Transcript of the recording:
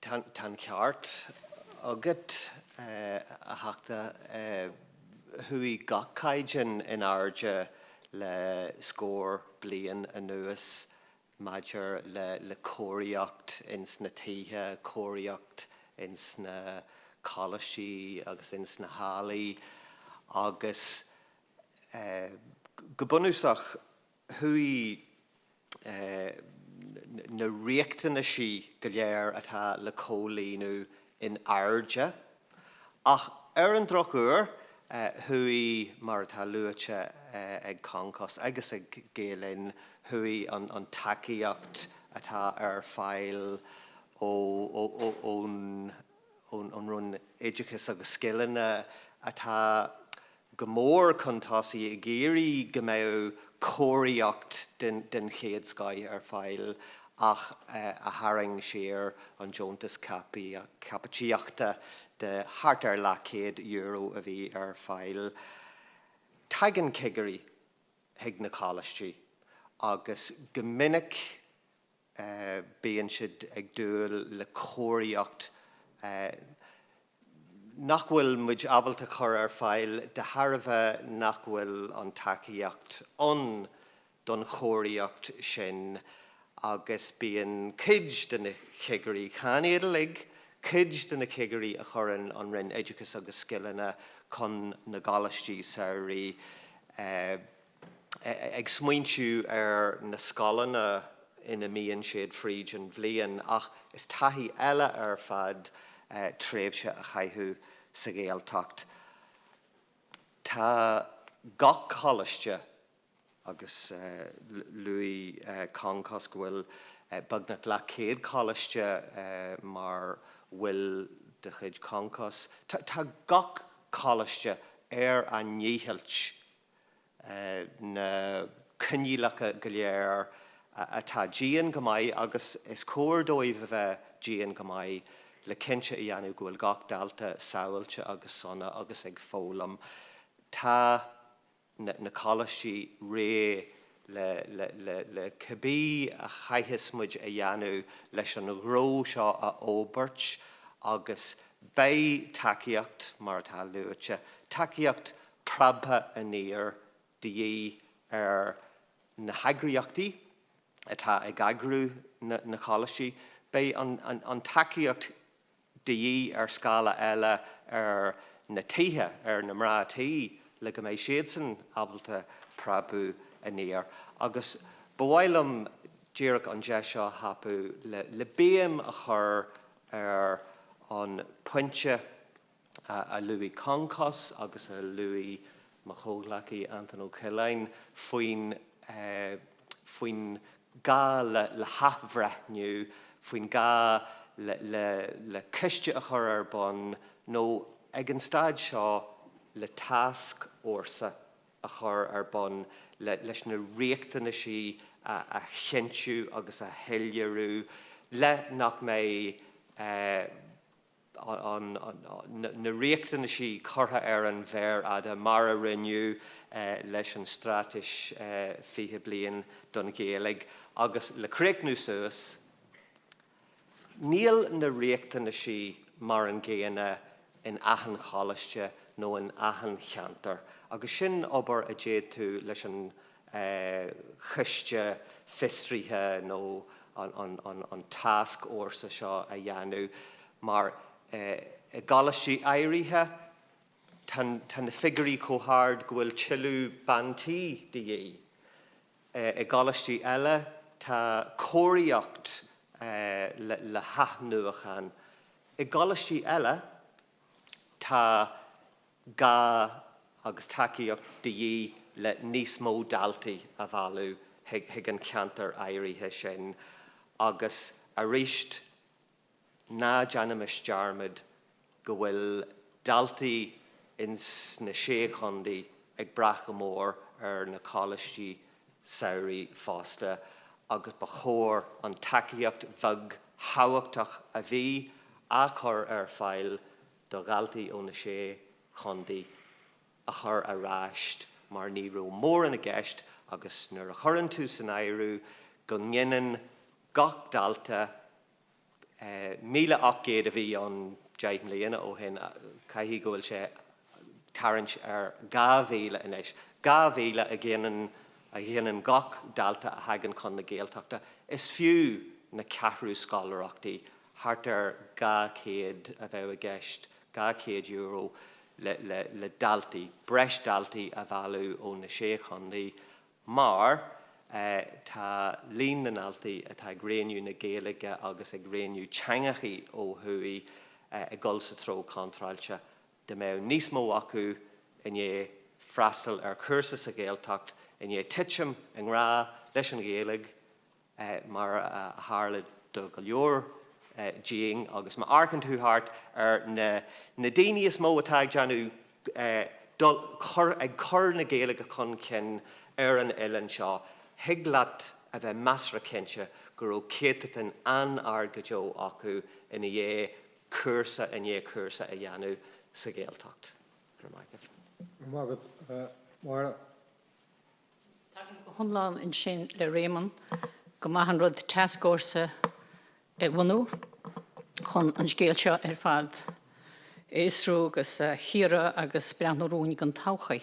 Tá an ceart agat, a Theachta. Chuaigh gach caighdeán in airde le scór bliain anuas maidir le cóiríocht ins na tithe, cóiríocht ins na coláistí agus ins na hallaí agus go bunúsach chuaigh na riachtanaisí go léir atá le comhlíonadh in airde ach ar an drochuair chuaigh, mar atá luaite ag Concos agus ag Gael Linn, chuaigh an tacaíocht atá ar fáil ón ón Roinn Oideachais agus Scileanna atá go mór chun tosaigh ag iarraidh go mbeadh cóiríocht den chéad scoith ar fáil ach a tharraing siar an deontas caipitíochta de thart ar leathchéad euro a bhí ar fáil. Tagann cigirí chuig na coláistí agus go minic bíonn siad ag dúil le cóiríocht nach bhfuil muid ábalta a chur ar fáil de thairbhe nach bhfuil an tacaíocht ann don chóiríocht sin agus bíonn cuid de na cigirí, chan iad uilig, cuid de na cigirí a chuireann an Roinn Oideachais agus Scileanna chun na gcoláistí samhraidh, ag smaointiú ar na scoileanna ina mbíonn siad fríd an bhliain ach is taithí eile ar fad tréimhse a chaitheamh sa Ghaeltacht. Tá gach coláiste agus luaigh Concos go bhfuil beagnach leath céad coláiste mar bhaill de chuid Concos, tá gach coláiste ar a ndícheall na coinníollacha go léir atá dian go maith agus is cóir dóibh a bheith dian go maith le cinnte a dhéanamh go bhfuil gach dalta sábháilte agus sona agus ag foghlaim. Tá na coláistí réidh le cibé a chaithfeas muid a dhéanamh leis an ghnó seo a fhorbairt agus beidh tacaíocht, mar atá luaite, tacaíocht preabtha aniar de dhíth ar na heagraíochtaí atá ag eagrú na gcoláistí. Beidh an tacaíocht de dhíth ar scála eile ar na tithe, ar na mná tí le go mbeidh siadsan ábalta preabadh aniar. Agus ba mhaith liom díreach an deis seo a thapú le béim a chur ar an bpointe, a luaigh Concos agus a luaigh mo chomhghleacaí Anton Ó Ceallaigh faoin faoin gá le le hathbhreithniú, faoin gá le le le ciste a chur ar bun nó ag an staid seo le tascfhórsa a chur ar bun le leis na riachtanais sin a a chinntiú agus a shoiléiriú le nach mbeidh eh na riachtanais sin curtha ar an mhéar fhada, mar a rinneadh leis an Straitéis 20 Bliain don Ghaeilge, agus le críochnú suas. Níl na riachtanais sin mar an gcéanna in achan choláiste nó in achan cheantar, agus sin obair a d'fhéadfadh leis an. choiste fiosraithe nó an tascfhórsa seo a dhéanamh mar i gcoláistí áirithe tá na figiúirí chomh hard go bhfuil tuilleadh ban tí de dhíth. I gcoláistí eile tá cóiríocht le hathnuachan. I gcoláistí eile tá. gá agus tacaíocht de dhíth le níos mó daltaí a mhealladh chuig an cheantar áirithe sin agus arís ná déanaimis dearmad go bhfuil daltaí ins na Sé Chontae ag brath go mór ar na Coláistí Samhraidh fosta agus ba chóir an tacaíocht bheag thábhachtach a bhí á cur ar fáil do dhaltaí ó na sé chontae a chur ar ais mar ní raibh mórán i gceist agus nuair a chuireann tú san áireamh go ngineann gach dalta míle ocht gcéad a bhí ann deich mbliana ó shin caithfidh go bhfuil sé ag tarraingt ar dhá mhíle anois, dhá mhíle a ghineann a ghineann gach dalta a thagann chun na Gaeltachta. Is fiú na ceathrú scoláireachtaí a. Thart ar €200 a bheadh i gceist, €200 le daltaí, breis daltaí a mhealladh ó na sé chontae mar tá líon na ndaltaí atá ag roghnú na Gaeilge agus ag roghnú teangachaí ó thuaidh ag dul sa treo contráilte. Dá mbeadh níos mó acu i ndiaidh freastal ar chúrsa sa Ghaeltacht, i ndiaidh titim i ngrá leis an Ghaeilge, mar a tharla do go leor dínn agus má amharcann tú thart ar na daoine is mó atá ag déanamh dul chun ag cur na Gaeilge chun cinn ar an oileán seo thig leat a bheith measartha cinnte go raibh céatadan an-ard go deo acu ina dhiaidh cúrsa i ndiaidh cúrsa a dhéanamh sa Ghaeltacht. Go raibh maith agat. Go raibh maith agat Máire. Tagaim go hiomlán ansin le Réamonn gur maith an rud tascfhórsa a bhunú chun an scéal seo ar fad a fhiosrú agus a chíoradh agus breathnú romhainn don todhchaí.